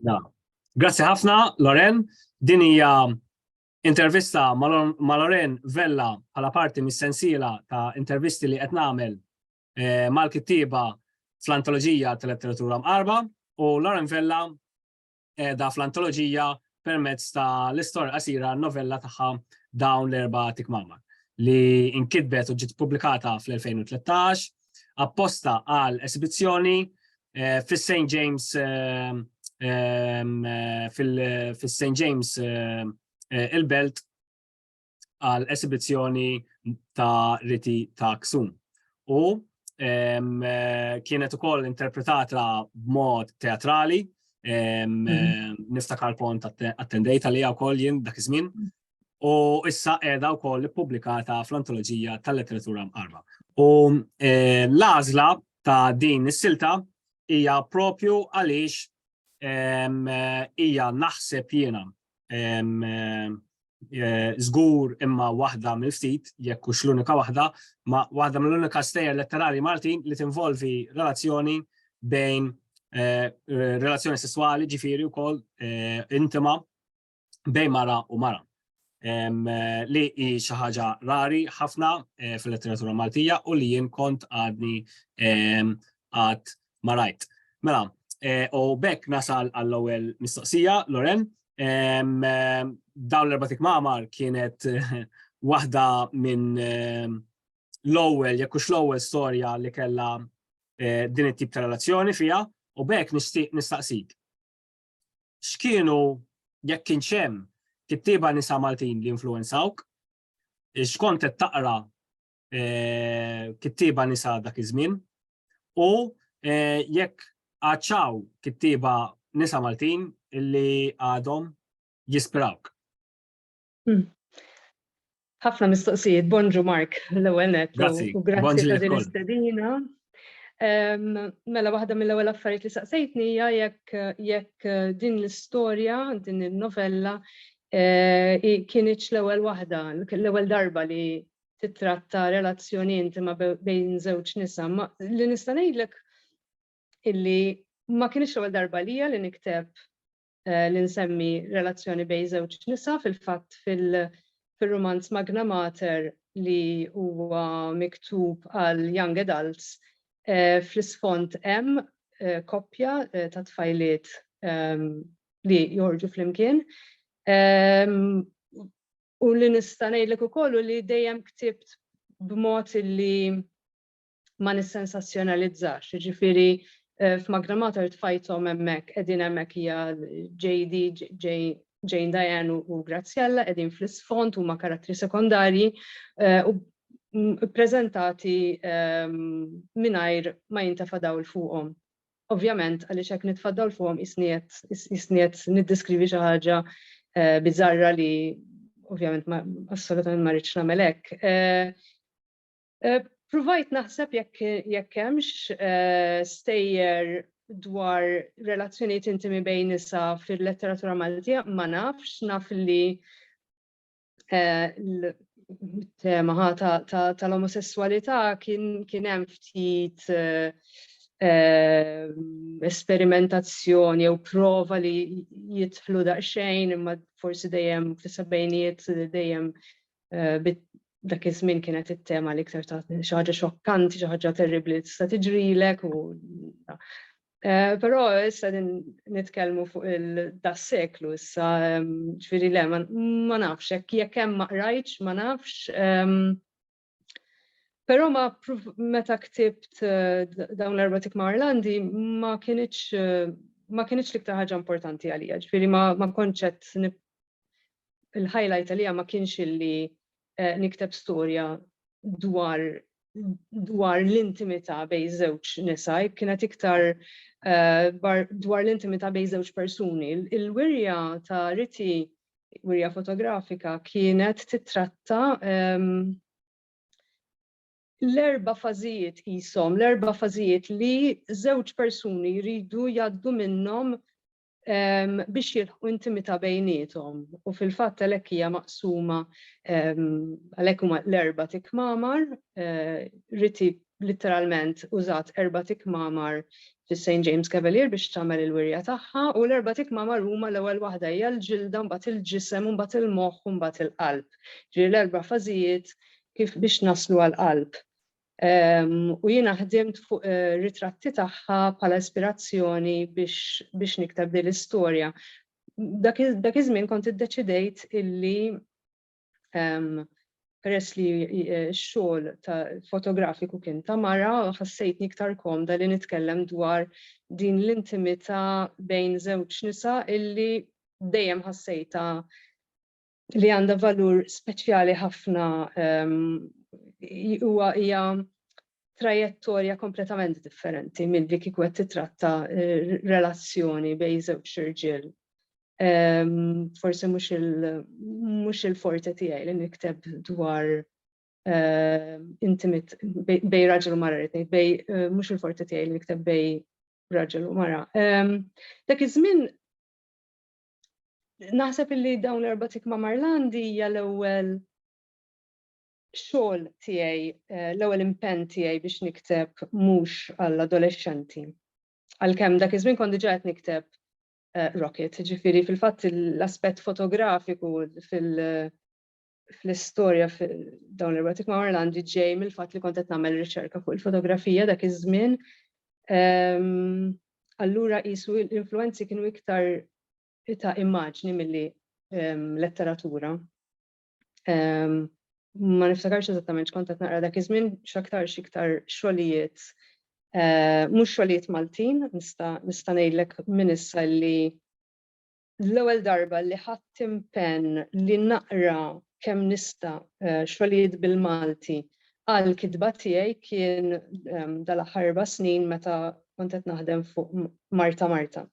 Grazzi ħafna, Loren. Din hija intervista ma' Loren Vella bħala parti mis-sensiela ta' intervisti li qed nagħmel mal-kittieba fl-antoloġija tal-letteratura mqarrba u Loren Vella qiegħda fl-antoloġija permezz ta' l-istorja qasira novella tagħha dawn l-erba' tikmama li inkitbet u ġiet pubblikata fl-2013 apposta għal esibizzjoni eh, fis-St. James eh, eh, fil-St. James il-Belt għal esibizzjoni ta' riti ta' ksum. U kienet ukoll interpretata b'mod teatrali, mhm. nista' karpont attendejta li wkoll jien dak iż-żmien. Mhm. U issa qiegħda wkoll ippubblikata fl-antoloġija tal-letteratura mqarba. U l-għażla ta' din is-silta hija propju għaliex hija naħseb jiena żgur eh, imma waħda mill-ftit, jekk hux l-unika waħda, ma waħda mill-unika stejjer letterarji Maltin li tinvolvi relazzjoni bejn eh, relazzjoni sessuali ġifiri u kol eh, intima bejn mara u mara. Li hi xi ħaġa rari ħafna fil-letteratura Maltija u li jien kont għadni għad Ma rajt. Mela, eh, u bekk nasal għall-ewwel mistoqsija, Loren. Dawn l-erba' tikmamar kienet waħda minn l-ewwel, jekk hux l-ewwel storja li kellha eh, din it-tip ta' relazzjoni fiha, u bekk nistaqsik. X'kienu jekk kien xem kittieba nisa Maltin li influenzawk, x'kont qed taqra eh, kittiba nisa dak iż-żmien u eh, jekk għadċaw kittiba nisa Maltin illi għadhom jispirawk. Hmm. Ħafna mistoqsijiet, bonġu Mark, l-ewwel net. Grazzi, u grazzi ta' din istedina. Mela waħda mill-ewwel affarijiet li saqsejtni hija jekk jekk eh, din l-istorja, din il-novella eh, kienieċ l-ewwel waħda, l-ewwel darba li titratta relazzjoni intima bejn żewġ nisa. Li nista' ngħidlek illi ma kienx l-ewwel darba lija li nikteb eh, li nsemmi relazzjoni bejn żewġ nisa fil-fatt fil-romanz Magna Mater li huwa miktub għal young adults eh, fl-isfond hemm eh, koppja ta' tfajliet ehm, li joħorġu flimkien. Ehm, U li nista' ngħidlek ukoll u li dejjem ktibt b'mod li ma nissensazzjonalizzax, jiġifieri eh, f'Magna Mater tfajthom hemmhekk, qegħdin hemmhekk hija JD, Jane Diane u Graziella qegħdin fl-isfond huma karattri sekondarji eh, u ppreżentati ehm, mingħajr ma jintafa' dawl fuqhom. Ovvjament, għaliex hekk nitfaddal fuqhom qisni qed qisni qed niddeskrivi xi ħaġa biżarra li ovvjament assolutament ma rridx nagħmel hekk. Pruvajt naħseb jekk jekk hemmx eh, stejjer dwar relazzjonijiet intimi bejn nisa fil-letteratura Maltija, ma nafx, naf li tema tal-omosessualità kien hemm ftit eh, eh, esperimentazzjoni jew prova li jidħlu daqsxejn imma forsi dejjem fis-sebgħinijiet dejjem eh, dak iż-żmien kienet it-tema li iktar ta' xi ħaġa xokkanti, xi ħaġa terribbli tista' tiġrilek u Eh, però issa din nitkellmu fuq il-das seklu issa ġifieri le ma nafx hekk jekk hemm ma qrajtx ma nafx. Però ma meta ktibt eh, dawn l-erba tik ma' Irlandi ma kienitx eh, ma kienitx l-iktar ħaġa importanti għalija, ġifieri ma konċett il-highlight għalija ma kienx illi nikteb storja dwar dwar l-intimità bej żewġ nisa, kienet iktar eh, dwar l-intimità bej żewġ persuni. Il-wirja ta' riti, wirja fotografika, kienet titratta ehm, l-erba fażijiet jisom, l-erba fażijiet li żewġ persuni jridu jaddu minnhom biex jilħu intimita bejnietom. U fil-fatt għalhekk hija maqsuma għalhekk huma l-erba' tikmamar, eh, riti literalment użat erba' tikmamar fis-St. James Cavalier biex tagħmel il-wirja tagħha u l-erba' tikmamar huma l-ewwel waħda hija l-ġilda mbagħad il-ġisem u mbagħad il-moħħ u mbagħad il-qalb. Ġieli l-erba' fażijiet kif biex naslu għall-qalb. U jiena ħdimt fuq ritratti tagħha bħala ispirazzjoni biex nikteb din l-istorja. Dak iż-żmien kont iddeċidejt illi peress li x-xogħol ta' fotografiku kien ta' mara, ħassejtni iktar komda li nitkellem dwar din l-intimità bejn żewġ nisa illi dejjem ħassejtha li għandha valur speċjali ħafna huwa hija trajettorja kompletament differenti milli kieku qed titratta relazzjoni bejn żewġ irġiel. Forsi mhux il-forte tiegħi li nikteb dwar intimit bej raġel u mara rrid bej mhux il-forte tiegħi li nikteb bej raġel u mara. Dak iż-żmien Naħseb illi dawn l-erba' tikma Marlandi hija l-ewwel xogħol tiegħi, eh, l-ewwel impenn tiegħi biex nikteb mhux għall-adolexxenti. Għalkemm dak iż-żmien kont diġà qed nikteb eh, Rocket, ġifieri fil-fatt l-aspett fotografiku fil- fl-istorja dawn l-erotic ma' Orlandi ġej mill-fatt li kont qed nagħmel riċerka fuq il-fotografija dak iż-żmien. Ehm, allura qisu l-influenzi kienu iktar ta' immaġni milli ehm, letteratura. Ehm, ma niftakarx eżattament x'kont qed naqra dak iż-żmien x'aktar x'iktar xogħlijiet eh, mhux xogħlijiet Maltin, nista' ngħidlek minn issa li l-ewwel darba li ħadt impenn li naqra kemm nista' xogħlijiet bil-Malti għall-kitba tiegħi kien dal-aħħar erba' snin meta kont qed naħdem fuq Marta Marta.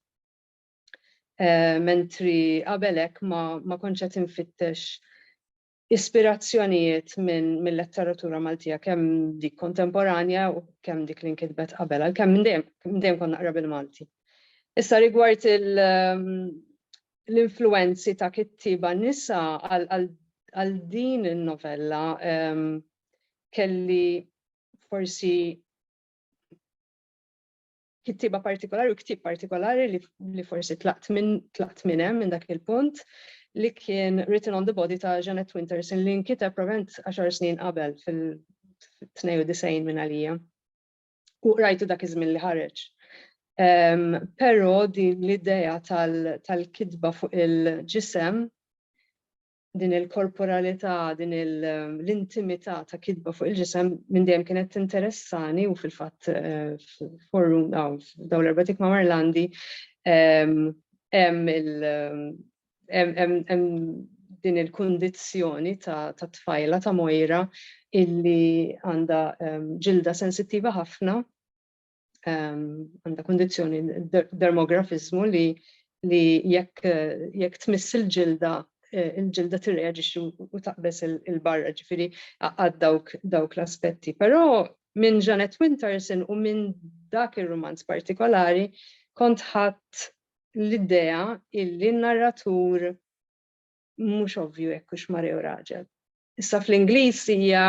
Mentri qabel hekk ma kontx qed infittex ispirazzjonijiet mil-letteratura Maltija kemm dik kontemporanja u kemm dik li nkitbet qabel għalkemm minn dejjem minn dejjem kont naqra bil-Malti. Issa rigward l-influwenzi ta' kittieba nisa għal din in-novella kelli forsi kittiba partikolari u ktieb partikolari li, li forsi tlaqt minn tlaqt minn hemm minn dak il-punt li kien Written on the Body ta' Janet Winterson li nkiteb provent 10 snin qabel fil-92 minn għalija. U rajtu dak iż-żmien li ħareġ. Um, Però din l-idea tal-kitba tal fuq il-ġisem din il-korporalità, din l-intimità ta' kitba fuq il-ġisem minn dejjem kienet tinteressani u fil-fatt eh, forru dawn l-erbatik ma' Marlandi hemm din il-kundizzjoni ta' tfajla ta' mojra illi għandha ġilda sensittiva ħafna għandha kundizzjoni dermografizmu li li jekk jekk tmiss il-ġilda eh, il-ġilda tirreaġixxi u taqbeż il-barra ġifieri għad dawk dawk l-aspetti. Però minn Janet Winterson u minn dak ir-romanz partikolari kont ħadd l-idea illi narratur mhux ovvju jekk hux mara jew raġel. Issa fl-Ingliż hija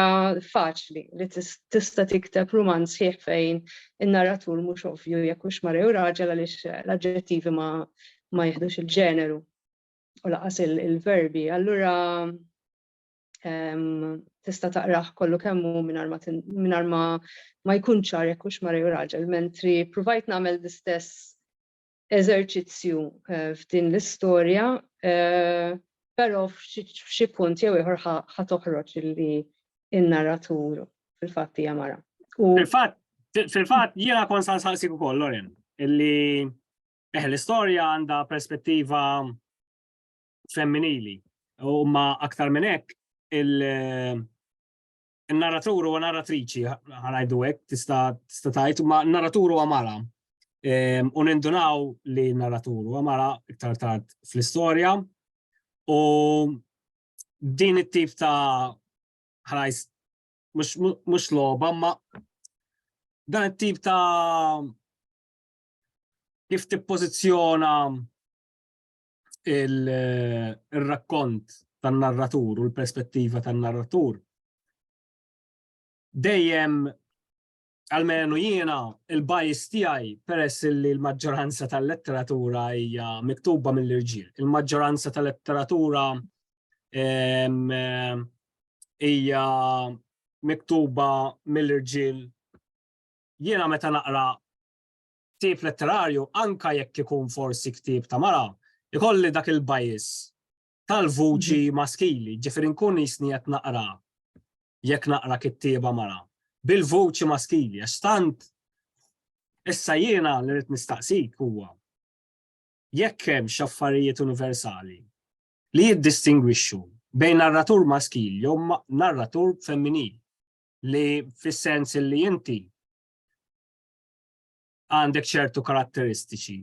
faċli li tista' tikteb rumanz sħiħ fejn in-narratur mhux ovvju jekk hux mara jew raġel għaliex l-aġġettivi ma, ma jihdux il-ġeneru u laqas il-verbi. Allura ehm, tista' taqrah kollu kemm hu mingħajr ma ma jkun ċar jekk hux mara jew raġel, mentri provajt nagħmel l-istess eżerċizzju f'din l-istorja, però f'xi punt jew ieħor ħa toħroġ li n-narratur fil-fatt hija mara. Fil-fatt, fil-fatt jiena kon san saqsik ukoll Loren, illi eh l-istorja għandha perspettiva femminili u ma aktar minn hekk il- n-narratur huwa narratriċi, ħanajdu hekk, tista' tista' tgħid, ma n-narratur huwa mara. Ehm, u nindunaw li n-narratur huwa mara iktar tard fl-istorja. U din it-tip ta' ħrajs mhux logħba, ma dan it-tip ta' kif tippożizzjona il-rakkont tan-narratur u l-perspettiva tan-narratur dejjem għalmenu jiena il-bajs tiegħi peress li l-maġġoranza tal-letteratura hija miktuba mill-irġiel. Il-maġġoranza tal-letteratura hija miktuba mill-irġiel. Jiena meta naqra ktieb letterarju anke jekk ikun forsi ktieb ta' mara, ikolli dak il-bias tal-vuċi mhm. maskili, ġifieri nkun jisni qed naqra jekk naqra kittieba mara bil-vuċi maskili għax tant issa jiena li rrid nistaqsik huwa jekk hemm x'affarijiet universali li jiddistingwixxu bejn narratur maskil jew narratur femminil li fis-sens li inti għandek ċertu karatteristiċi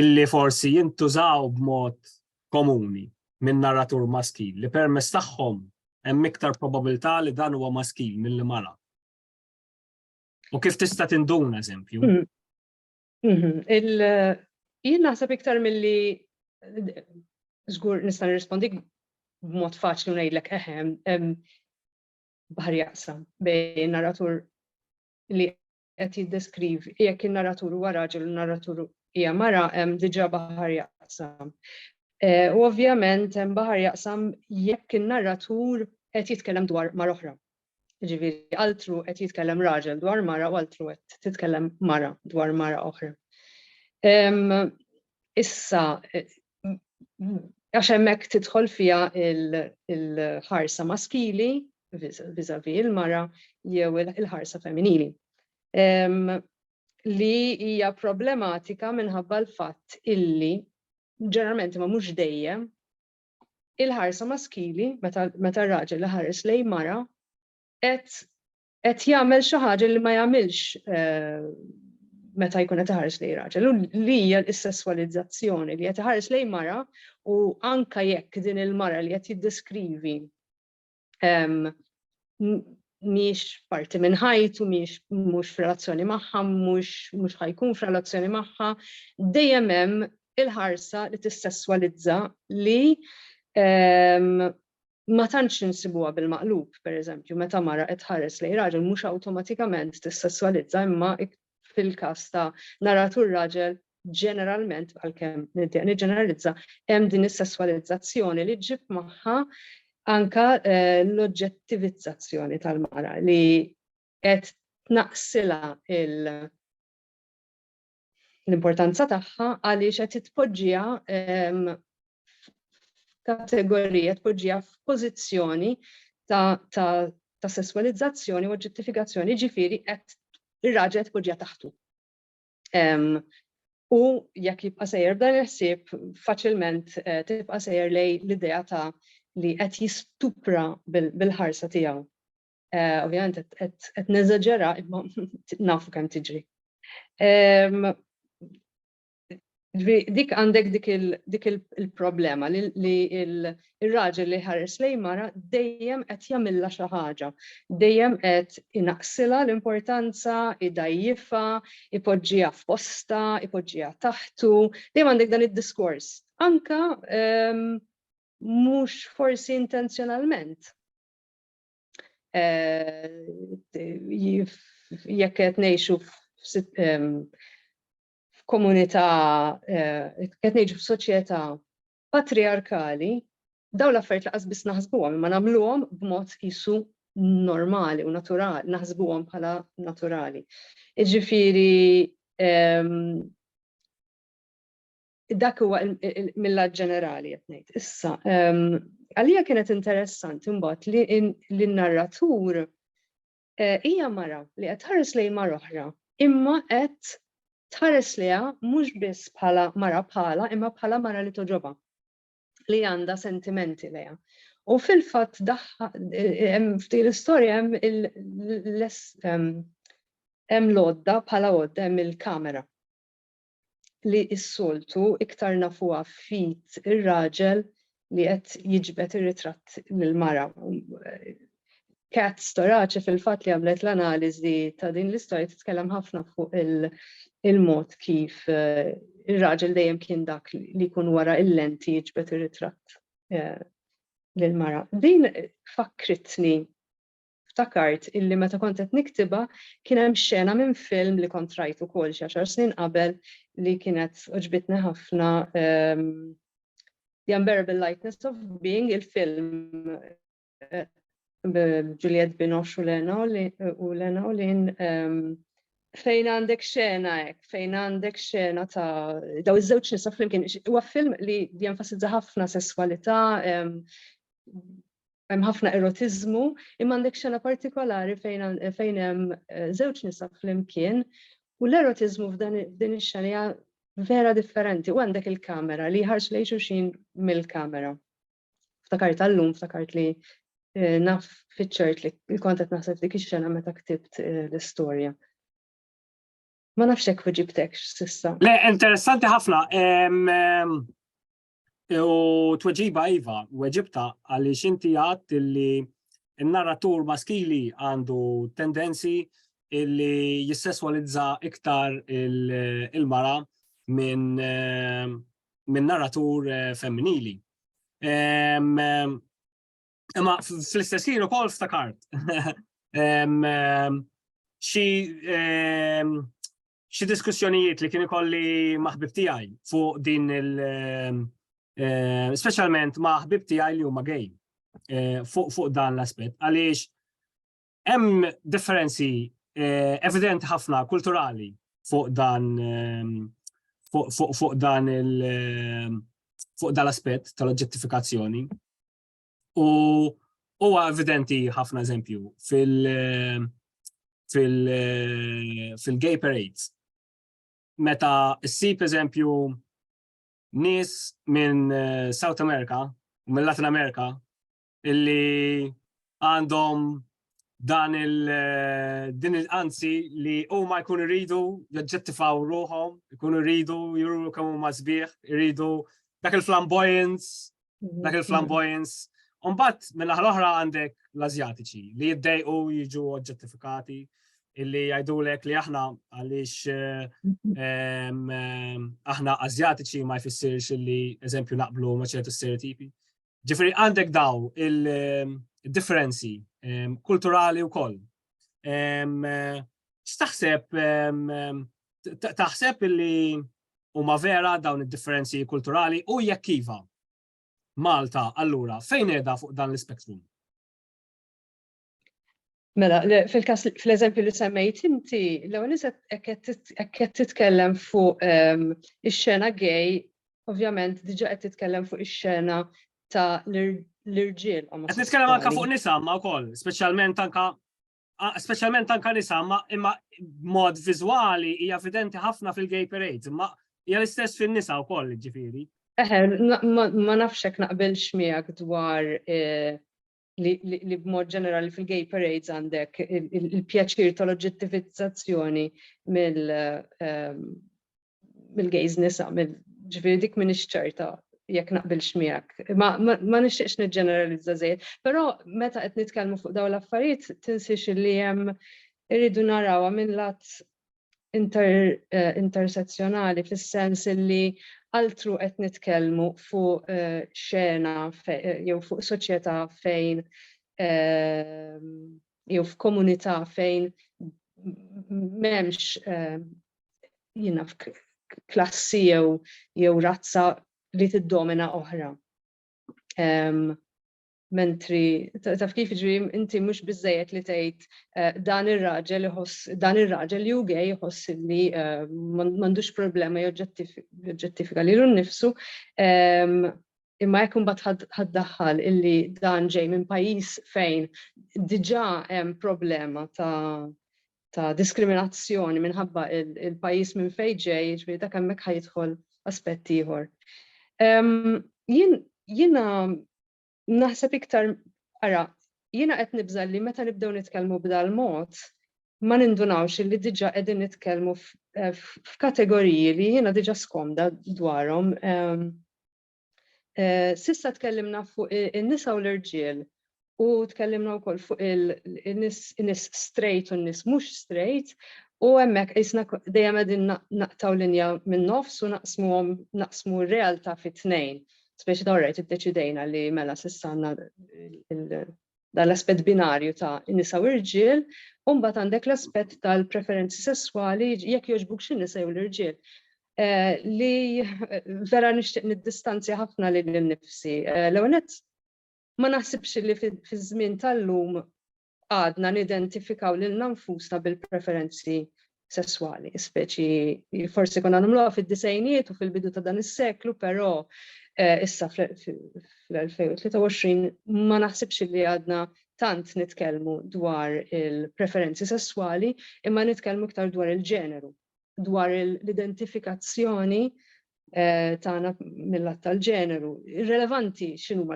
illi forsi jintużaw b'mod komuni minn narratur maskil li permess tagħhom hemm iktar probabilità li dan huwa maskil mill mara. U kif tista' tinduna eżempju? Hmm. Mhm. Il jien naħseb iktar milli żgur nista' nirrispondik b'mod faċli ngħidlek eħem baħar jaqsam bejn narratur li qed jiddeskrivi, jekk in-narratur huwa raġel u n-narratur hija mara, hemm diġà baħar jaqsam. Eh, u ovvjament hemm baħar jaqsam jekk in-narratur qed jitkellem dwar mar oħra. Ġifieri altru qed jitkellem raġel dwar mara u altru qed titkellem mara dwar mara oħra. issa għax hemmhekk tidħol fiha il-ħarsa maskili vizavi il-mara jew il-ħarsa femminili li hija problematika minħabba l-fatt illi ġeneralment ma mhux dejjem il-ħarsa maskili meta r-raġel li ħares lej mara qed qed jagħmel xi ħaġa li ma jagħmilx meta jkun qed iħares lejn raġel u li hija l-sesswalizzazzjoni li qed iħares lejn mara u anka jekk din il-mara li qed jiddeskrivi miex parti minn ħajtu, miex mhux f'relazzjoni magħha, mhux mhux ħajkun f'relazzjoni magħha, dejjem hemm il-ħarsa li tissesswalizza li ma tantx insibuha bil-maqlub, pereżempju, meta mara qed tħares lejn raġel mhux awtomatikament tissesswalizza imma fil-każ ta' naratur raġel ġeneralment, għalkemm niddeq niġġeneralizza, hemm din is-sesswalizzazzjoni li ġġib magħha anke l-oġġettivizzazzjoni tal-mara li qed tnaqqsilha il- l-importanza tagħha għaliex qed titpoġġiha f'kategorija tpoġġiha f'pożizzjoni ta', ta, ta sesswalizzazzjoni u ġustifikazzjoni ġifieri qed ir-raġel tpoġġiha taħtu. Um, u jekk jibqa' sejjer dan il-ħsieb faċilment eh, tibqa' sejjer lej l-idea ta' li qed jistupra bil-ħarsa tiegħu. Eh, ovvjament qed neżaġera imma nafu kemm tiġri. Dik għandek dik il-problema li il-raġel li ħares lej mara dejjem qed jagħmilha xi ħaġa, dejjem qed inaqsilha l-importanza, idajjifha, ipoġġiha f'posta, ipoġġiha taħtu, dejjem għandek dan id-diskors. Anka mhux forsi intenzjonalment jekk qed ngħixu f'komunità, qed ngħixu f'soċjetà patriarkali, dawn l-affarijiet laqas biss naħsbuhom, imma nagħmluhom b'mod qisu normali u naturali, naħsbuhom bħala naturali. Iġifieri Dak huwa mill-lat ġenerali qed ngħid. Issa, għalija kienet interessanti mbagħad li n-narratur eh, hija mara li qed tħares lejn mar oħra, imma qed tħares liha mhux biss bħala mara bħala, imma bħala mara li toġoba li għandha sentimenti lejha. U fil-fatt daħħa f'din l-istorja hemm hemm lodda bħala għodda hemm il-kamera li s-soltu iktar nafuha f'id ir-raġel li qed jiġbed ir-ritratt lill-mara. Kat Storace fil-fatt li għamlet l-analiżi ta' din l-istorja titkellem ħafna fuq il-mod kif eh, ir-raġel dejjem kien dak li jkun wara il-lenti jiġbed ir-ritratt eh, lill-mara. Din fakkritni ftakart illi meta kont qed niktibha kien hemm xena minn film li kont rajt ukoll xi għaxar snin qabel li kienet oġbitni ħafna ehm, The Unbearable Lightness of Being il-film eh, Juliet Binoche u Lena u Lena u Lin ehm, fejn għandek xena hekk, fejn għandek xena ta' daw iż-żewġ nisa flimkien, huwa film li jenfasizza ħafna sesswalità, ehm, hemm ħafna erotiżmu, imma għandek xena partikolari fejn hemm żewġ nisa flimkien u l-erotiżmu f'din ix-xena hija vera differenti u għandek il-kamera li jħarsu lejn xulxin mill-kamera. Ftakart tal-lum, ftakart li eh, naf fiċċert li l-kont qed naħseb dik ix-xena meta ktibt eh, l-istorja. Ma nafx hekk ġibtek s'issa. Le, interessanti ħafna. U tweġiba iva, weġibta għaliex inti għadt illi n-narratur maskili għandu tendenzi illi jissesswalizza iktar il-mara minn min narratur femminili. Imma fl-istess ħin ukoll ftakart xi xi diskussjonijiet li kien ikolli ma' ħbib tiegħi fuq din il eh, eh, speċjalment ma' ħbib tiegħi li huma gay eh, fuq fuq dan l-aspett għaliex hemm differenzi evidenti ħafna kulturali fuq dan fuq dan il fuq dan l-aspett tal-oġġettifikazzjoni. U huwa evidenti ħafna eżempju fil- fil-gay parades. Meta ssib eżempju nis minn eh, South America, minn Latin America, illi għandhom dan il din il-anzi li huma jkunu jridu jaġġettifaw ruħhom, jkunu jridu juru kemm huma sbieħ, jridu dak il-flamboyance, mhm. dak il-flamboyance. Umbat minn aħħar oħra għandek l-Azjatiċi li jiddejqu jiġu oġġettifikati illi jgħidulek li aħna għaliex eh, mhm. aħna Azjatiċi ma jfissirx illi eżempju naqblu ma ċertu stereotipi. Ġifiri għandek daw il-differenzi ehm, kulturali u koll. Ehm, Staħseb, ehm, taħseb li huma vera dawn id-differenzi kulturali u jekk iva. Malta, allura, fejn edha fuq dan l-spektrum? Mela, fil-kas, fl-eżempju li semmejt inti, l-ewwel qed titkellem fuq ehm, ix-xena gay, ovvjament diġà qed titkellem fuq ix-xena ta' l-irġiel. Qed nitkellem anke fuq nisa ma wkoll, speċjalment anke speċjalment anke nisa ma imma mod viżwali hija evidenti ħafna fil-gay parade, imma hija l-istess fin-nisa wkoll ġifieri. Eħe, ma nafx hekk naqbilx miegħek dwar eh, li b'mod ġenerali fil-gay parades għandek il-pjaċir tal-oġġettivizzazzjoni ehm, mill-gays nisa, ġifiri dik minn ċerta jekk naqbilx miegħek. Ma, ma, ma nixtieqx niġġeneralizza żejjed, però meta qed nitkellmu fuq dawn l-affarijiet tinsiex li hemm irridu narawha minn lat intersezzjonali fis-sens li altru qed nitkellmu fuq eh, xena eh, jew fuq soċjetà fejn eh, jew f'komunità fejn m'hemmx jiena klassi jew jew razza li tiddomina oħra. Mentri, taf kif ġri, inti mhux biżejjed li tgħid eh, dan ir-raġel iħoss dan ir-raġel li hu gej iħoss li eh, m'għandux problema joġġettifika lilu nnifsu. Ehm, imma jekk imbagħad ħaddaħħal illi dan ġej minn pajjiż fejn diġà hemm problema ta' ta' diskriminazzjoni minħabba il-pajjiż minn fejn ġej, jiġri dak hemmhekk ħajidħol aspett ieħor. Ehm, jien jiena Naħseb iktar ara, jiena qed nibża' li meta nibdew nitkellmu b'dal-mod ma nindunawx li diġà qegħdin nitkellmu f'kategoriji li jiena diġà skomda dwarhom. S'issa tkellimna fuq in-nisa u l-irġiel u tkellimna wkoll fuq in-nies straight u n-nies mhux straight u hemmhekk qisna dejjem qegħdin naqtgħu linja min-nofs u naqsmuhom naqsmu r-realtà fi tnejn. speċi ta' rajt iddeċidejna li mela s'issa għandna dan l-aspett binarju ta' nisa u rġiel, u mbagħad għandek l-aspett tal-preferenzi sesswali jekk jogħġbuk xi nisa jew l-irġiel. Eh, li vera nixtieq niddistanzja ħafna lil nnifsi. Eh, l-ewwel ma naħsibx li fiż-żmien tal-lum għadna nidentifikaw lilna nfusna bil-preferenzi sesswali, speċi forsi konna nagħmluha fid-disejnijiet u fil-bidu ta' dan is-seklu, però eh, issa fl-2023 ma naħsibx li għadna tant nitkellmu dwar il-preferenzi sesswali imma nitkellmu iktar dwar il-ġeneru, dwar l-identifikazzjoni eh, tagħna mill-att tal-ġeneru. Irrelevanti x'inhuma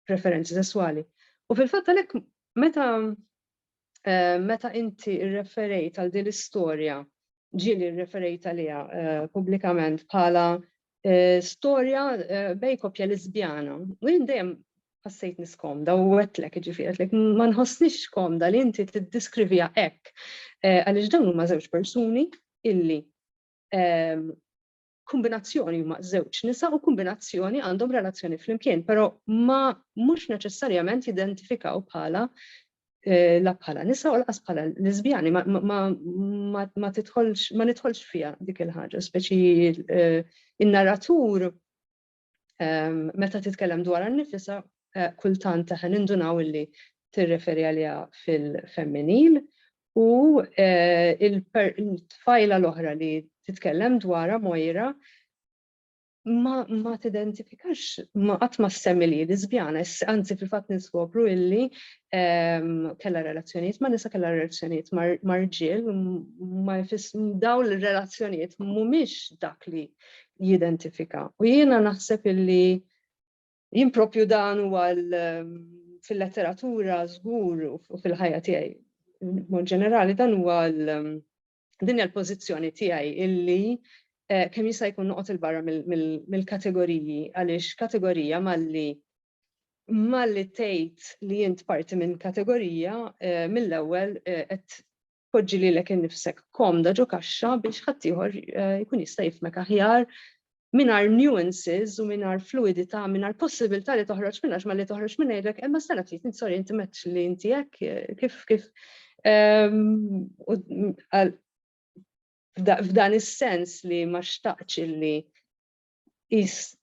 preferenzi sesswali. U fil-fatt għalhekk meta eh, meta inti rreferejt għal din l-istorja ġieli rreferejt għaliha eh, pubblikament bħala eh, storja bej koppja lesbjana. U jien dejjem ħassejt niskomda u għetlek ġifieri ma nħossnix komda li inti tiddiskrivija hekk għaliex dawn huma żewġ persuni illi ehm, kombinazzjoni huma żewġ nisa u kombinazzjoni għandhom relazzjoni flimkien, però ma mhux neċessarjament jidentifikaw bħala eh, la bħala nisa u laqas bħala lesbjani ma, ma, ma, ma titħolx ma nidħolx fiha dik il-ħaġa, speċi eh, in-narratur meta titkellem dwarha nnifisha kultant aħna nindunaw illi tirreferi għaliha fil-femminil u il-tfajla l-oħra li titkellem dwarha Moira ma tidentifikax ma qatt ma ssemmi li lesbjana, anzi fil-fatt niskopru illi kellha relazzjonijiet ma' nisa kellha relazzjonijiet ma' rġiel ma jfiss dawn ir-relazzjonijiet mhumiex dak li jidentifika. U jiena naħseb illi jien propju dan huwa ehm, fil-letteratura żgur u fil-ħajja tiegħi. Mod ġenerali dan huwa ehm, din il-pożizzjoni tiegħi illi eh, kemm jista' jkun noqgħod il-barra mill-kategoriji għaliex kategorija malli malli tgħid li jint parti minn kategorija eh, mill-ewwel eh, qed poġġi lilek innifsek komda ġo kaxxa biex ħaddieħor eh, jkun jista' jifmek aħjar minar nuances u minar fluidità, minar possibilità li toħroġ minna, ma li toħroġ minna jidrek, imma eh, s-sena ftit, sorry, inti meċ li inti jek, eh, kif, kif, ehm, f'dan is-sens li ma xtaqx li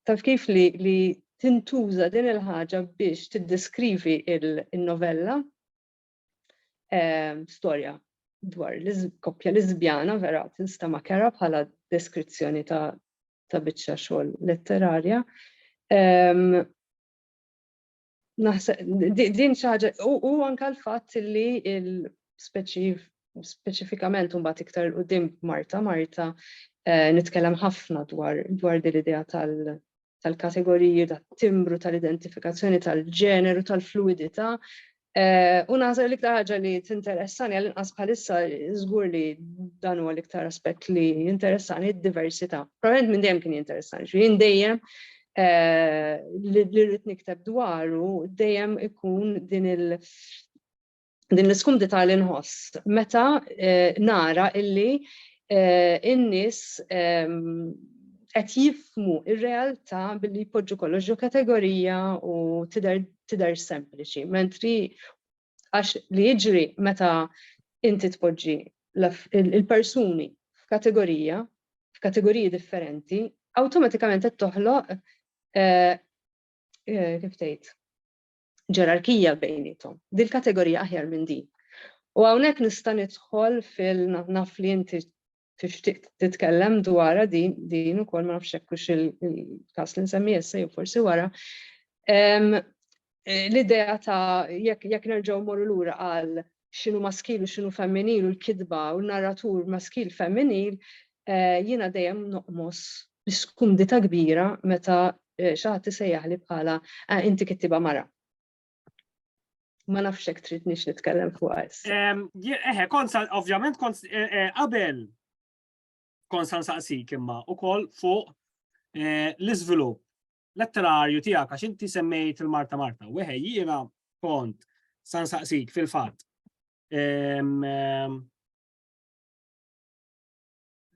taf kif li, li tintuża din il-ħaġa biex tiddeskrivi il-novella, Ehm, storja dwar l-koppja Lisbjana vera tinstema' kera bħala deskrizzjoni ta' ta' biċċa xogħol letterarja. Ehm, din xaġa, u anka l-fatt li speċifikament un bat iktar u dim Marta, Marta, eh, nitkellem ħafna dwar dwar dil-idea tal- tal-kategoriji, tat-timbru, tal-identifikazzjoni tal-ġeneru, tal-fluwidità. Eh, u naħseb li iktar ħaġa li tinteressani għal inqas bħalissa żgur li dan huwa l-iktar aspett li jinteressani d-diversità. Probabilment minn dejjem kien jinteressani, xi dejjem eh, li rrid nikteb dwaru dejjem ikun din il- din l-iskumdità li nħoss meta eh, nara illi eh, in-nies ehm, qed jifmu ir-realtà billi jpoġġu kollox ġo kategorija u tidher sempliċi, mentri għax li jiġri meta inti tpoġġi il-persuni f'kategorija, f'kategoriji differenti, awtomatikament qed toħloq eh, eh, kif tgħid ġerarkija bejniethom. Din il-kategorija aħjar minn din. U hawnhekk nista' nidħol fil naf li inti tixtieq titkellem dwarha din din ukoll ma nafx hekk hux il-każ li nsemmi issa jew forsi wara. L-idea ta' jekk jekk nerġgħu morru lura għal x'inhu maskil u x'inhu femminil u l-kitba u n-narratur maskil femminil, jiena dejjem noqmos bi skumdità kbira meta xi ħadd isejjaħli bħala ah inti kittieba mara. Ma nafx hekk tridnix nitkellem fuqha issa. Eħe, konsa ovvjament qabel konsa nsaqsik imma ukoll fuq l-iżvilupp letterarju tiegħek għax inti semmejt il-Marta Marta. Weħe jiena kont san saqsik fil-fatt.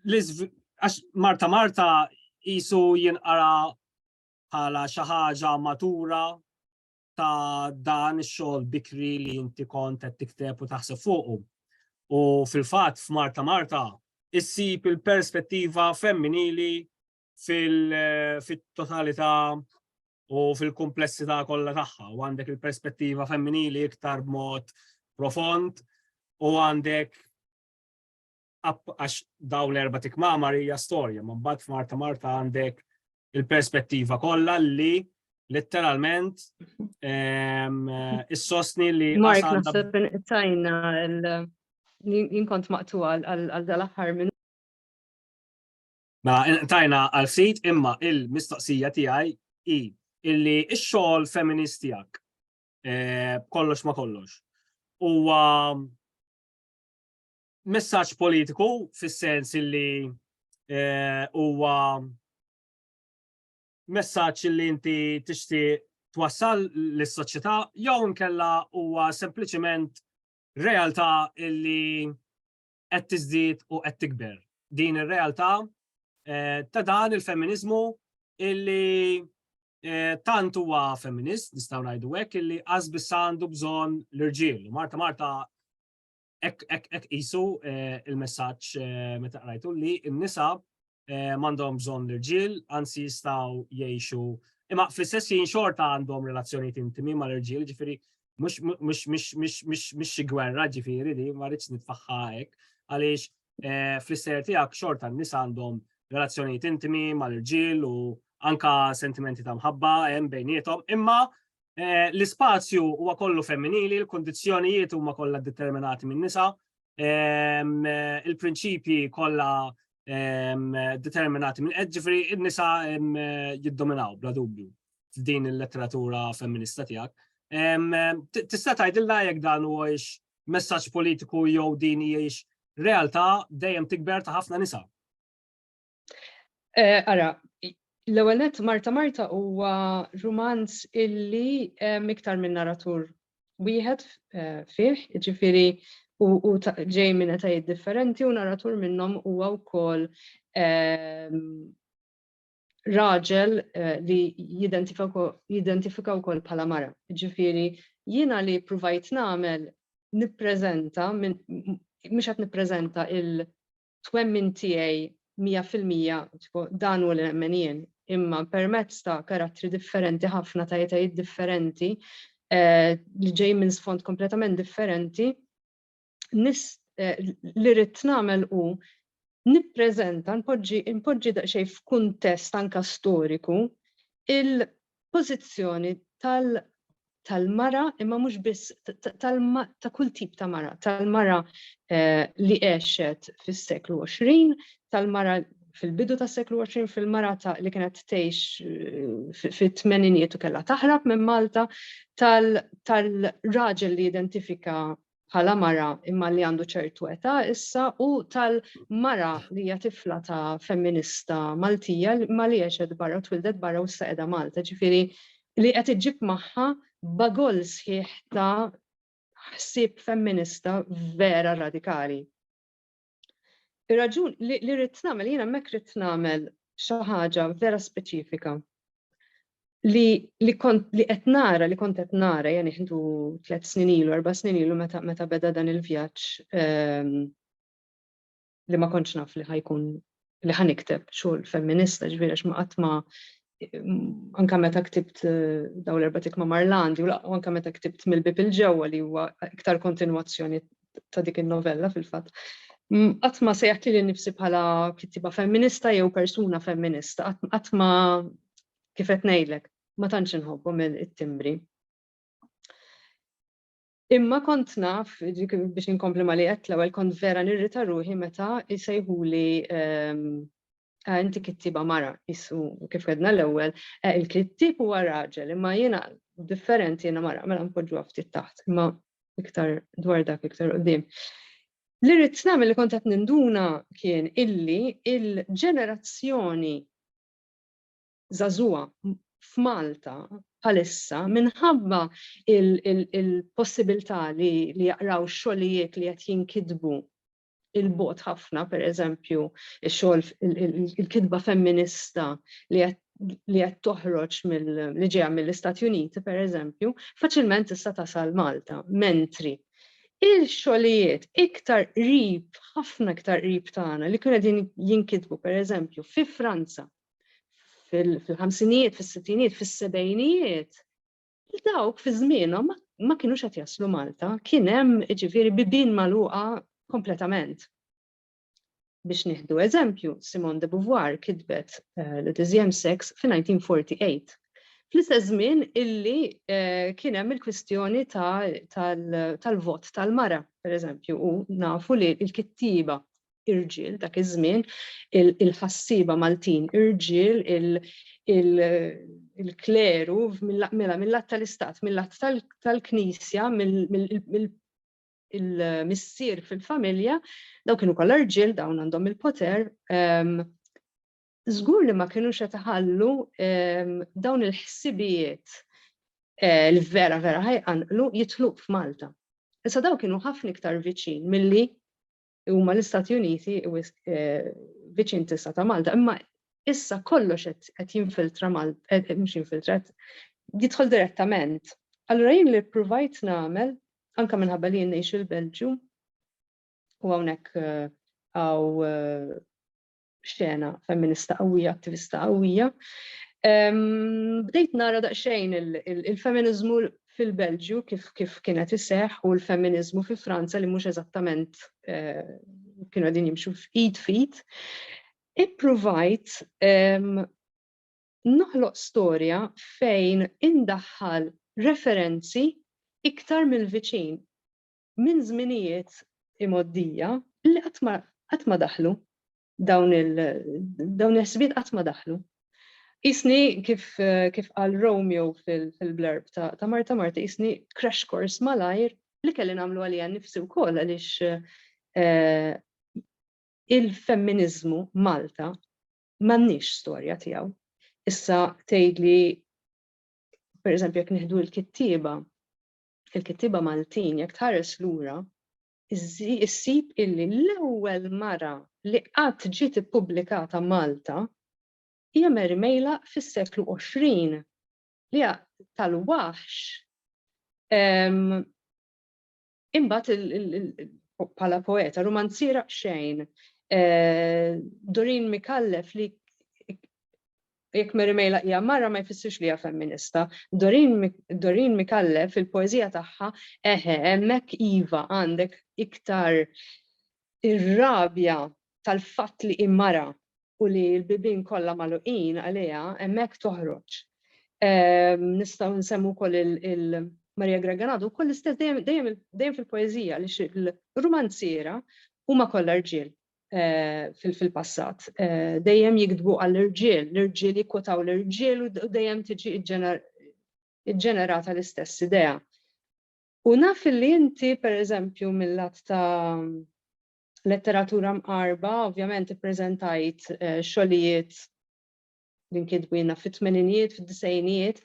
Għax Marta Marta jisu jinqara bħala xi ħaġa matura ta' dan ix-xogħol bikri li inti kont qed tikteb u taħseb fuqu. U fil-fatt f'Marta Marta issib il-perspettiva femminili fit-totalità u fil-kumplessità kollha tagħha u għandek il-perspettiva femminili iktar b'mod profond u għandek għax daw l-erba tikmamar hija storja, ma mbagħad f'Marta Marta għandek il-perspettiva kollha li letteralment ehm, is-sostni li. Mark, naħseb tajna l-jinkont maqtu għal dal-aħħar minn Mela, tajna għal sit imma il-mistoqsija tiegħi hi illi x-xogħol feminist tiegħek eh, kollox ma kollox. Huwa messaġġ politiku fis-sens illi eh, huwa messaġġ illi inti tixtieq twassal lis-soċjetà jew nkella huwa sempliċement realtà illi qed tiżdied u qed tikber. Din ir-realtà eh, ta' dan il-femminizmu illi eh, tant huwa femminist, nistgħu ngħidu hekk, illi qas biss għandu bżonn l-irġiel. Marta Marta ek isu eh, il-messaġġ meta qrajtu li n-nisa m'għandhom bżonn l-irġiel, anzi jistgħu jgħixu imma fl-istess jien xorta għandhom relazzjonijiet intimi mal-irġiel, ġifieri mhux xi gwerra ġifieri li ma rridx nitfaħħa hekk, għaliex fl-istejer tiegħek xorta n-nies għandhom relazzjonijiet intimi mal-irġiel u anka sentimenti ta' mħabba hemm bejnietom, imma l-ispazju huwa kollu femminili, l-kondizzjonijiet huma kollha determinati minn nisa, il-prinċipji kollha determinati minn qed ġifri n-nisa jiddominaw bla dubju f'din il-letteratura femminista tiegħek. Tista' tgħidilna jekk dan huwiex messaġġ politiku jew din hijiex realtà dejjem tikber ta' ħafna nisa. Eh, ara, l-ewwel nett Marta Marta huwa rumanz illi miktar minn naratur wieħed eh, fih, ġifiri u ġej minn etajiet differenti u naratur minnhom huwa wkoll ehm, raġel eh, li jidentifika wkoll bħala mara. Ġifieri jiena li provajt nagħmel nippreżenta mhux qed nippreżenta il twemmin tiegħi mija fil-mija tipo dan hu li nemmen jien, imma permezz ta' karattri differenti ħafna ta' etajiet differenti li ġej minn sfond kompletament differenti nis li rrid nagħmel hu nippreżenta npoġġi npoġġi daqsxejn f'kuntest anka storiku il pożizzjoni tal tal-mara imma mhux biss ta' kull tip ta' mara, tal-mara eh, li għexet fis-seklu 20, tal-mara fil-bidu tas seklu 20 fil-mara ta' li kienet tgħix eh, fit-tmeninijiet u kellha taħrab minn Malta tal-raġel li identifika bħala mara imma li għandu ċertu età issa u tal-mara li hija tifla ta' femminista Maltija imma li għexet barra u twildet barra u issa qiegħda Malta. Ġifieri li qed iġġib magħha bagoll sħiħ ta' ħsieb femminista vera radikali. Ir-raġun li li rrid nagħmel jiena hemmhekk rrid nagħmel xi ħaġa vera speċifika li li kont li qed nara li kont qed nara jani ħintu tliet snin ilu, erba' snin ilu meta meta beda dan il-vjaġġ ehm, li ma kontx naf li ħajkun li ħa nikteb xogħol femminista ġifieri għax ma qatt ma anka meta ktibt eh, daw l-erba tikma Marlandi u anka meta ktibt mill-bib il-ġewwa li huwa iktar kontinwazzjoni ta' dik il-novella fil-fatt. Qatt ma sejħt li nifsi bħala kittiba femminista jew persuna femminista, qatt ma kif qed ngħidlek, ma tantx inħobbhom it-timbri. Imma kont naf, biex inkompli ma li qed l-ewwel kont vera nirrita ruħi meta jsejħuli ah, inti kittiba mara, jissu kif għedna l-ewwel, eh, il-kittib huwa raġel, imma jiena differenti jiena mara, mela npoġġu ftit taħt, imma iktar dwar dak iktar qudiem. Li rrid nagħmel li kont qed ninduna kien illi il-ġenerazzjoni żagħżugħa f'Malta bħalissa minħabba il-possibilità li jaqraw xogħlijiet li qed jinkitbu il-bot ħafna, per eżempju, xogħol il-kitba femminista li qed li qed toħroġ li ġejja mill-Istati Uniti, per eżempju, faċilment tista' tasal Malta, mentri il-xogħlijiet iktar qrib, ħafna iktar qrib tagħna li kienu qegħdin jinkitbu pereżempju fi Franza fil-ħamsinijiet, fis-sittinijiet, fis-sebejnijiet, dawk fi żmienhom ma kienux qed jaslu Malta, kien hemm ġifieri bibin magħluqa kompletament. Biex nieħdu eżempju, Simone de Beauvoir kitbet eh, The Deuxième Sex fi 1948. Fl-istess żmien illi eh, kien hemm il-kwistjoni tal-vot tal-mara, per eżempju, u nafu li l-kittiba irġiel dak iż-żmien, il-ħassieba Maltin irġiel, il-kleru mela mill-lat tal-istat, mill-lat tal-knisja, il-missier fil-familja, daw kienu kollha rġiel dawn għandhom il-poter, żgur li ma kinux qed iħallu dawn il-ħsibijiet eh, li vera vera ħajqanqlu jitluq f'Malta. Issa daw kienu ħafna iktar viċin milli huma l-Istati Uniti eh, viċin tista' ta' Malta, imma issa kollox qed jinfiltra Malta, eh, eh, mhux jinfiltra, jidħol direttament. Allura jien li provajt nagħmel, anka minħabba li ngħix il-Belġju, u hawnhekk għaw xena femminista qawwija, attivista qawwija. Bdejt nara daqsxejn il-femminizmu fil-Belġju kif kif kienet iseħ u l-femminizmu fi Franza li mhux eżattament eh, kienu għadin jimxu f'id fit. Ippruvajt noħloq storja fejn indaħħal referenzi iktar mill-viċin. minn żminijiet imgħoddija li qatt ma daħlu dawn il-ħsibiet qatt ma daħlu. Isni kif qal Romeo fil-blurb ta' Marta Marta, isni crash course malajr li kelli nagħmlu għalija nifsi wkoll għaliex eh, il-femminizmu Malta m'għandniex storja tiegħu. Issa tgħidli per eżempju jekk nieħdu l-kittieba fil-kittieba Maltin jekk tħares lura issib illi l-ewwel mara li qatt ġiet ippubblikata Malta hija Mary Meylaq fis-seklu 20 li hija tal-waħx imbagħad bħala poeta, rumanziera xejn, Doreen Mikallef li Jekk Mary Mejla hija mara ma jfissirx li hija femminista. Doreen Micallef fil-poeżija tagħha eħe hemmhekk iva għandek iktar ir-rabja tal-fatt li hi mara u li l-bibien kollha magħluqin għaliha hemmhekk toħroġ. Nistgħu nsemmu wkoll il Maria Greganado wkoll l-istess dejjem fil-poeżija li l-rumanziera huma kollha rġiel. fil-passat. Dejjem jikdbu għall-irġiel, l-irġiel jikkotaw l-irġiel u dejjem tiġi ġġenerata l-istess idea. U naf li inti, per eżempju, mill-lat ta' letteratura mqarba, ovvjament ippreżentajt xogħlijiet li nkitbina fit-tmeninijiet, fid-disejnijiet,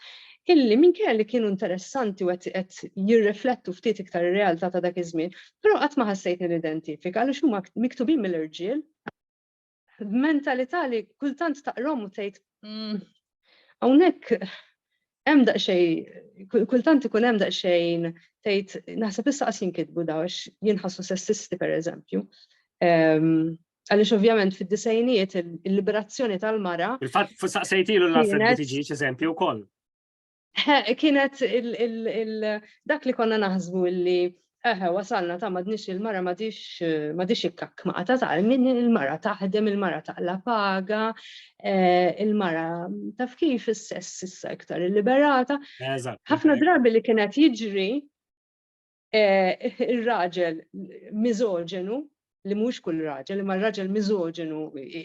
illi minkejja li kienu interessanti u qed jirriflettu ftit iktar ir-realtà ta' dak iż-żmien, però qatt ma ħassejtni nidentifika għaliex huma miktubin mill-irġiel b'mentalità li kultant taqrom u tgħid mm, hawnhekk hemm daqsxejn kultant ikun hemm daqsxejn tgħid naħseb issa qas jinkitbu daw għax jinħassu sessisti pereżempju. Ehm, Għaliex ovvjament fid-disejnijiet il-liberazzjoni tal-mara. Il-fatt saqsejtilu l-Alfred li tiġi eżempju wkoll. Kienet dak li konna naħsbu li eħe wasalna ta' madnix il-mara madix ikkak ma' ta' ta' minn il-mara taħdem il-mara ta' la paga, eh, il-mara taf kif is-sess issa iktar il-liberata. Ħafna drabi li kienet jiġri Ir-raġel miżoġenu li mhux kull raġel, imma raġel miżoġenu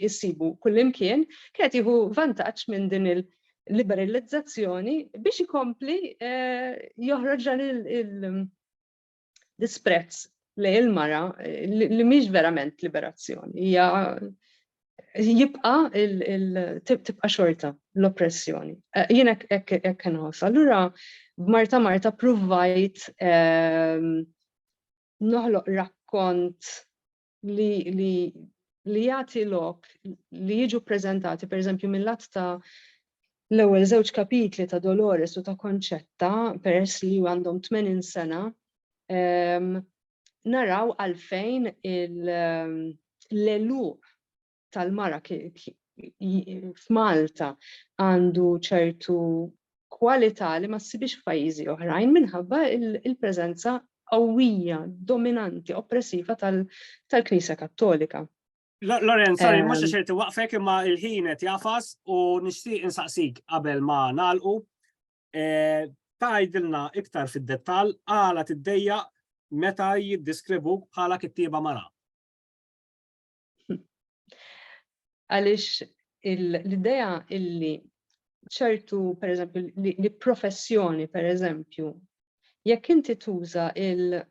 issibu kullimkien, kienet jieħu vantaġġ minn din il-liberalizzazzjoni biex ikompli eh, joħroġ dan l-isprezz li il-mara li mhix verament liberazzjoni, hija jibqa tibqa xorta l-oppressjoni. Eh, jien hekk nħoss. Allura b'Marta Marta provajt ehm, noħloq rakkont li li li jagħti lok li jiġu preżentati pereżempju mill-att ta' l-ewwel żewġ kapitli ta' Dolores u ta' Konċetta peress li għandhom 80 sena ehm, naraw għalfejn l-eluq tal-mara f'Malta għandu ċertu kwalità li ma ssibix f'pajjiżi oħrajn minħabba il-preżenza qawwija, dominanti, oppressiva tal-Knisja Kattolika. Loren, sorry, mhux għax irid waqfek imma il-ħin qed jafas u nixtieq insaqsik qabel ma nagħlqu tgħidilna iktar fid-dettall għala tiddejjaq meta jiddiskrivuk bħala kittieba mara. Għaliex l-idea illi ċertu, per eżempju, li professjoni, per eżempju, jekk inti tuża il-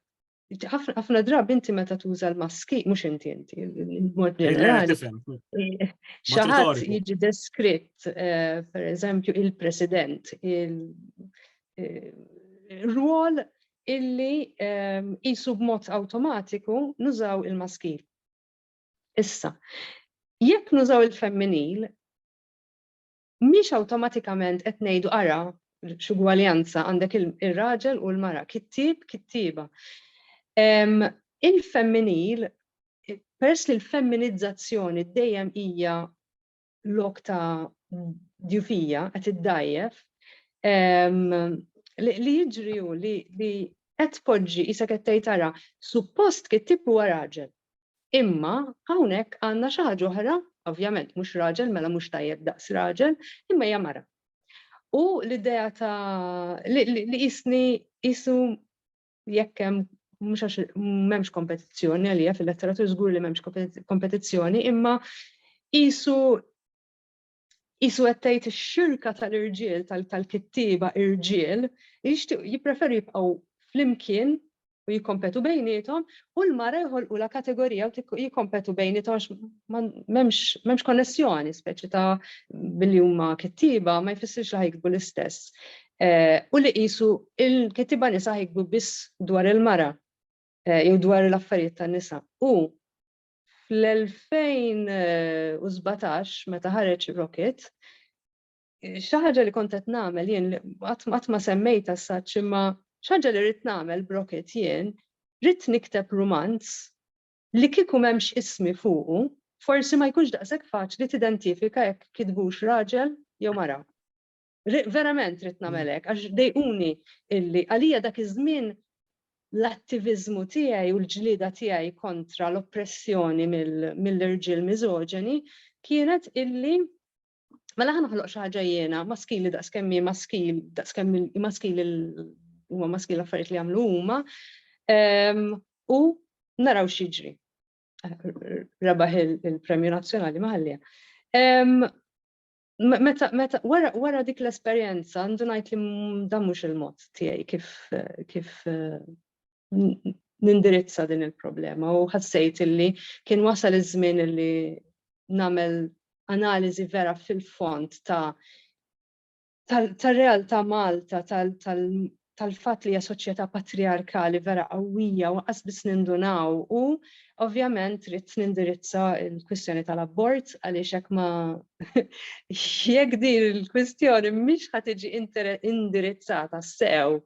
ħafna drabi inti meta tuża l-maski, mhux inti inti, mod ġenerali. Xaħat jiġi deskritt, eh, per eżempju, il-president, il-rwol eh, illi jisu eh, b'mod automatiku nużaw il-maski. Issa, jekk nużaw il-femminil, mhix awtomatikament qed ngħidu ara x'ugwaljanza għandek ir-raġel u l-mara, kittieb, kittieba. Il-femminil, peress li l-femminizzazzjoni dejjem hija lok ta' djufija qed iddajjef, li jiġri hu li qed tpoġġi isek qed tgħid ara, suppost kittieb huwa raġel. Imma hawnhekk għandna xi ħaġa oħra, ovvjament mhux raġel mela mhux tajjeb daqs raġel, imma hija mara. U l-idea ta' li qisni qisu jekk hemm mhux għax m'hemmx kompetizzjoni għalija fil-letteratur żgur li m'hemmx kompetizzjoni, imma qisu Qisu qed tgħid ix-xirka tal-irġiel tal-kittieba irġiel li jixtiequ jippreferu jibqgħu flimkien u jikkompetu bejniethom u l-mara jħolqulha kategorija u jikkompetu bejniethom għax m'hemmx konnessjoni speċi ta' billi huma kittieba ma jfissirx li ħajkbu l-istess. Eh, u li qisu il-kittieba nisa ħajkbu biss dwar il-mara eh, jew dwar l-affarijiet tan-nisa. U Fl-2017 meta ħareġ Rocket, xi ħaġa li kont qed nagħmel jien qatt ma semmejt as such imma xi ħaġa li rrid nagħmel b'Rocket jien, rrid nikteb rumanz li kieku m'hemmx ismi fuqu, forsi ma jkunx daqshekk faċli tidentifika jekk kitbux raġel jew mara. Verament rrit nagħmel hekk għax dejquni illi għalija dak iż-żmien l-attiviżmu tiegħi u l-ġlieda tiegħi kontra l-oppressjoni mill-irġiel miżoġeni kienet illi Mela ħan ħloq xi ħaġa jiena maskili daqs kemm maskil daqs kemm maskil huma maskil affarijiet li jagħmlu huma ehm, u naraw xiġri. Rabaħ il-Premju Nazzjonali maħallija. Ehm, meta, meta, wara, wara dik l-esperjenza, għandu ngħid li dan mhux il-mod tiegħi kif, kif nindirizza din il-problema u ħassejt illi kien wasal iż-żmien illi nagħmel analiżi vera fil-font ta' tal-realtà Malta, tal tal-fatt li hija soċjetà patrijarkali vera qawwija u anqas biss nindunaw u ovvjament ridt nindirizza l-kwistjoni tal-abort għaliex hekk ma jekk din il-kwistjoni mhix ħa tiġi indirizzata sew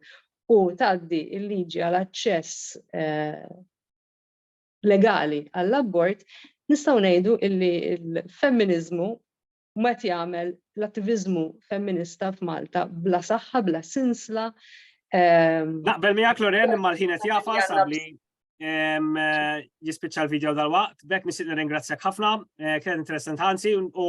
u tgħaddi l-liġi għal aċċess eh, legali għall-abort, nistgħu ngħidu illi l-femminizmu u qed jagħmel l-attiviżmu femminista f'Malta bla saħħa, bla sinsla. Ehm, Naqbel miegħek Loren imma l-ħin qed jafa sabli ehm, jispiċċa l-video dal-waqt, bekk nixtieq nirringrazzjak ħafna, eh, kien interessant ħansi u